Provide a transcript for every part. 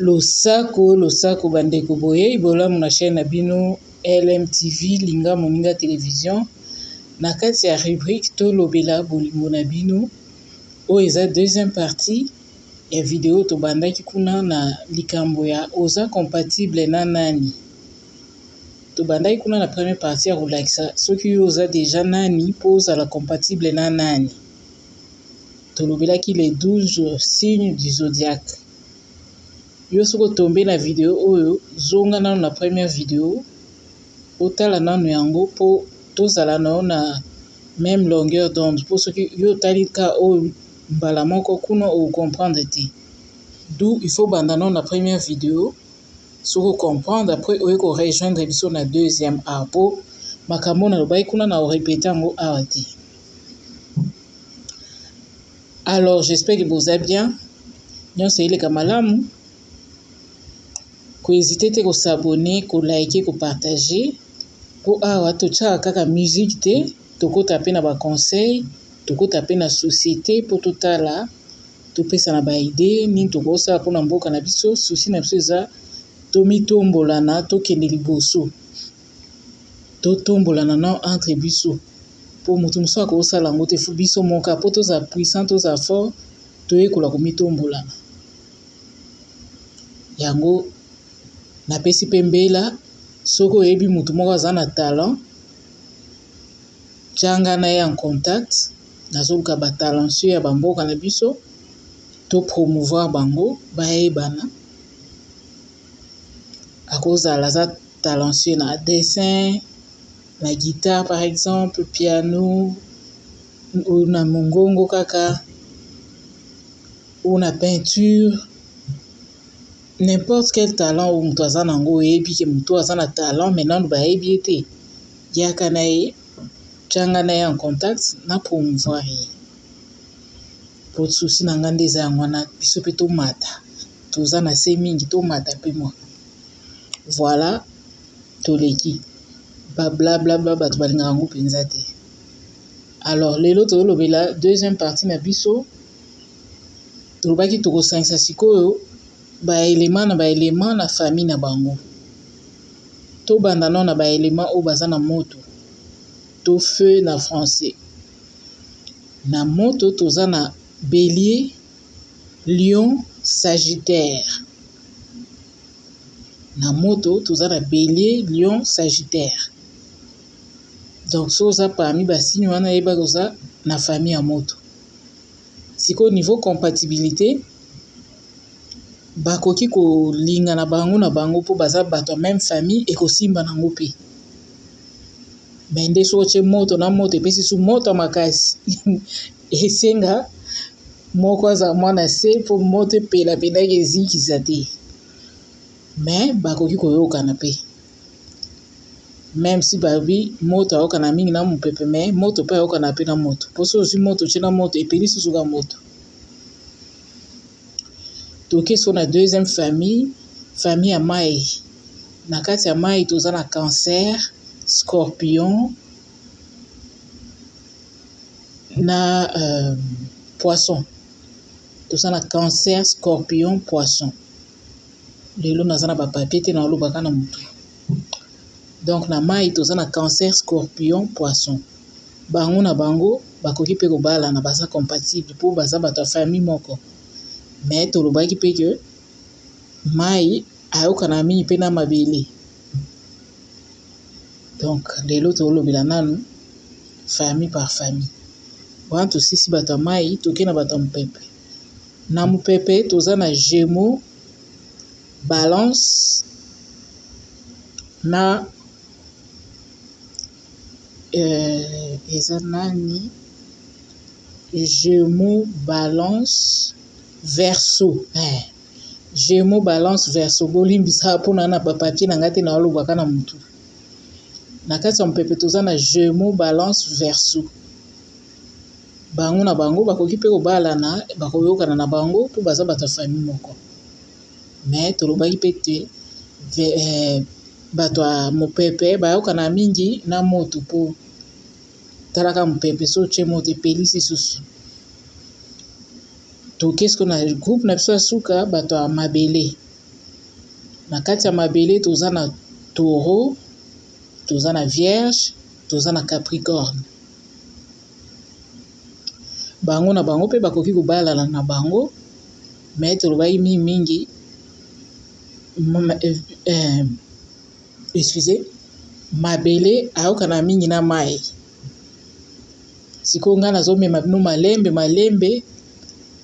Losako losako ba ndeko boyeyi bolamu na chaine na bino LMTV linga moninga television na kati ya rubrique tolobela bolingo na bino oyo eza deuxième partie ya video tobandaki kuna na likambo ya oza compatible na nani tobandaki kuna na première partie ya kolakisa soki yo oza dejà nani po ozala compatible na nani. tolobelaki les 12 signes du zodiaque yo soki otombe na video oyo zonga nano na première video otala nano yango mpo tozala na yo na meme longueur d'onde mpo soki yo otali ka oyo mbala moko kuna ocomprendre te du il faut banda nano na première video soki ocomprendre après oye ko rejoindre biso na deuxième art mpo makambo oyo nalobaki kuna na orepeta yango awa te Alors j'espère que boza bien nyonso eleka malamu ko hésiter te ko s'abonner ko liker ko partager po awa totyaka kaka musique te tokota pe na ba conseils tokota pe na societe po totala topesana ba idee nini tokosala pona mboka na biso souci na biso eza tomitombolana tokende liboso. totombolana na entre biso po mutu mosusu akoki kosala yango te faut biso moko kaka po tozala puissant tozala fort toyekola komitombolana yango napesi pe mbela soki oyebi mutu moko aza na talent tya nga na ye en contact nazoluka ba talentueux ya ba mboka na biso to promouvoir bango bayebana. akozala aza talentueux na dessin na guitare par exemple piano ou na mongongo kaka ou na peinture n'importe quel talent oyo moto aza na yango oyebi que moto oyo aza na talent mais nanu bayebi ye te yaka na ye tya nga na ye en contact na promouvoir ye po souci na nga nde eza yango wana biso pe tomata. toza na se mingi tomata mpe mwa voilà toleki ba blablabla bato balingaka yango mpenza te alors lelo tozolobela deuxième partie na biso tolobaki tokosangisa sikoyo baelema na baelema na famille na bango tobanda nao na baelema oyo baza na moto to feu na français na moto toza na belie Lion sagitaire na moto toza na belier lion sagitaire donc soki oza parmi basigne wana yebaki oza na famille ya moto sikoyo niveau compatibilité bakoki kolinga na bango na bango mpo baza bato ya meme famille ekosimba nango mpe me nde soki otye moto na moto epesi su moto ya makasi Esenga moko azala mwana se mpo moto epela mpenaki ezikisa te me bakoki koyokana mpe meme si babi moto ayokana mingi na mopepe me moto mpe ayokana mpe na moto mpo so ozwi moto otie na moto epeli susuka moto toke so na deuxième famille famille ya mai na kati ya mai toza na cancer scorpion na euh, poisson toza na cancer scorpion poisson lelo naza na bapapie te naolobaka na motu donc na mai toza na cancer scorpion poisson bango na bango bakoki mpe kobalana baza compatible mpo baza bato ya famille moko mais tolobaki mpe ke mai Ayokana mingi mpe na mabele. Donc lelo tolobela nanu famille par famille. Wana tosisi bato ya mayi toke na bato ya mopepe. Na mopepe toza na gemeaux, balance na eza nani gemeaux, balance, verseau. Gemeaux balance verseau bolimbisa po na na ba papier na nga te na oloba ka na mutu na kati ya mopepe toza na gemeaux balance verseau bango na bango bakoki pe kobalana bakoyokana na bango po baza bato ya famille moko mais tolobaki pe te bato ya mopepe bayokana mingi na moto po talaka mopepe soki otie moto epeli lisusu. Toke sikoyo na groupe na biso ya suka bato ya mabele na kati ya mabele toza na taureau toza na vierge toza na capricorne bango na bango mpe bakoki kobalana na bango me tolobaki mingi mingi eh, eh, excuse mabele ayokana mingi na mai sikoyo ngai nazomema bino malembe malembe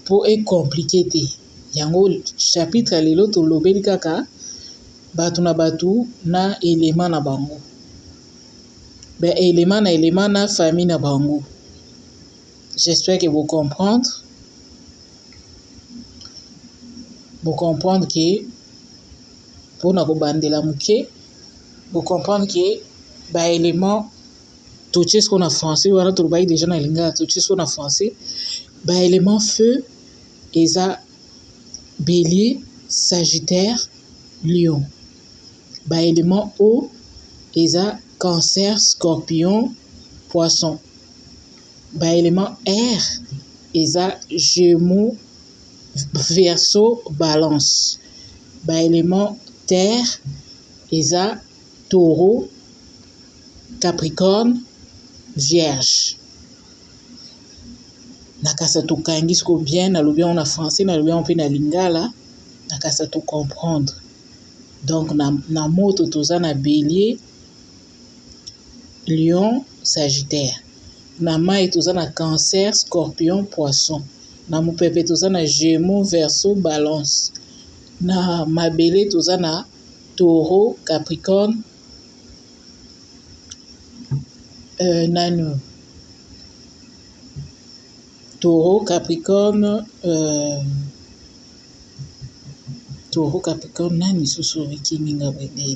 po e complique te yango chapitre ya lelo tolobeli kaka bato na bato na elema na bango ba elema na elema na famille na bango j'espère que bo comprendre bo comprendre que Mpo na kobandela moke, bo comprendre que ba elements totie sikoyo na français wana tolobaki deja na lingala totie sikoyo na français ba elements feu eza bélier sagittaire lion ba elements eau eza cancer scorpion poisson ba elements air eza gemeaux Verseau balance ba element terre eza taureau, capricorne, vierge na kasa to kangi sikoyo bien na lobi yango na français na lobi yango mpe na lingala na kasa to comprendre donc na moto toza na belier. Lion sagitaire na mayi toza na cancer scorpion poisson na mopepe toza na gemo verso balance na mabele toza na toro capricorne nani oyo toro capricorne toro capricorne nani lisusu oyo ekimi nga boye.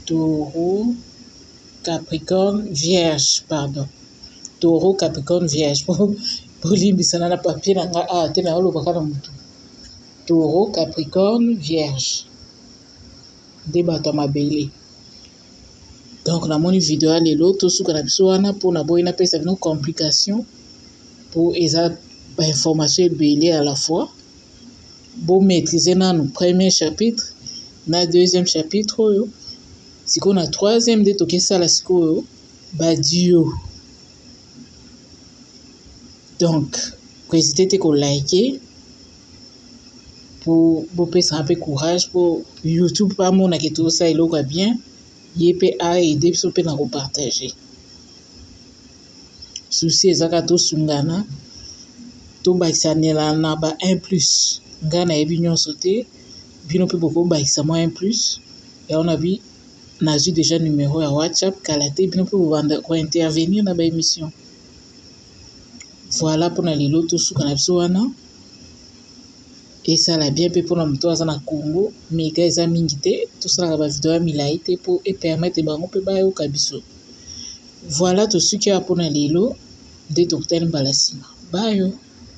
Taureau, Capricorne, Vierge, pardon. Taureau, Capricorne, Vierge. Bolimbisana na papier na nga awa te naolobaka na motu. Taureau, Capricorne, Vierge. Nde bato ya mabele. Donc namoni video ya lelo tosuka na biso wana mpo naboyi napesa bino complication mpo eza ba information ebele à la fois. bo maîtriser nanu premier chapitre na deuxième chapitre oyo sikoyo na troisième nde tokesala sikoyo ba duo donc koezite te ko like po bopesaka mpe courage po youtube mpe amona ke tozosala eloko ya bien ye mpe aide biso mpe na kopartage souci eza kaka tosungana tobakisanela na ba un plus ngai nayebi nyonso te bino mpe bokobakisa mwa un plus yango na bi nazwi deja numero ya whatsapp kala te bino mpe bobanda ko intervenir na ba emission voilà mpona lelo tosuka na biso wana esala bien mpe mpona moto aza na congo meka eza mingi te tosalaka ba video ya milai te mpo epermete bango mpe bayoka biso Voilà tosuki awa pona lelo nde tokutani mbala sima bye.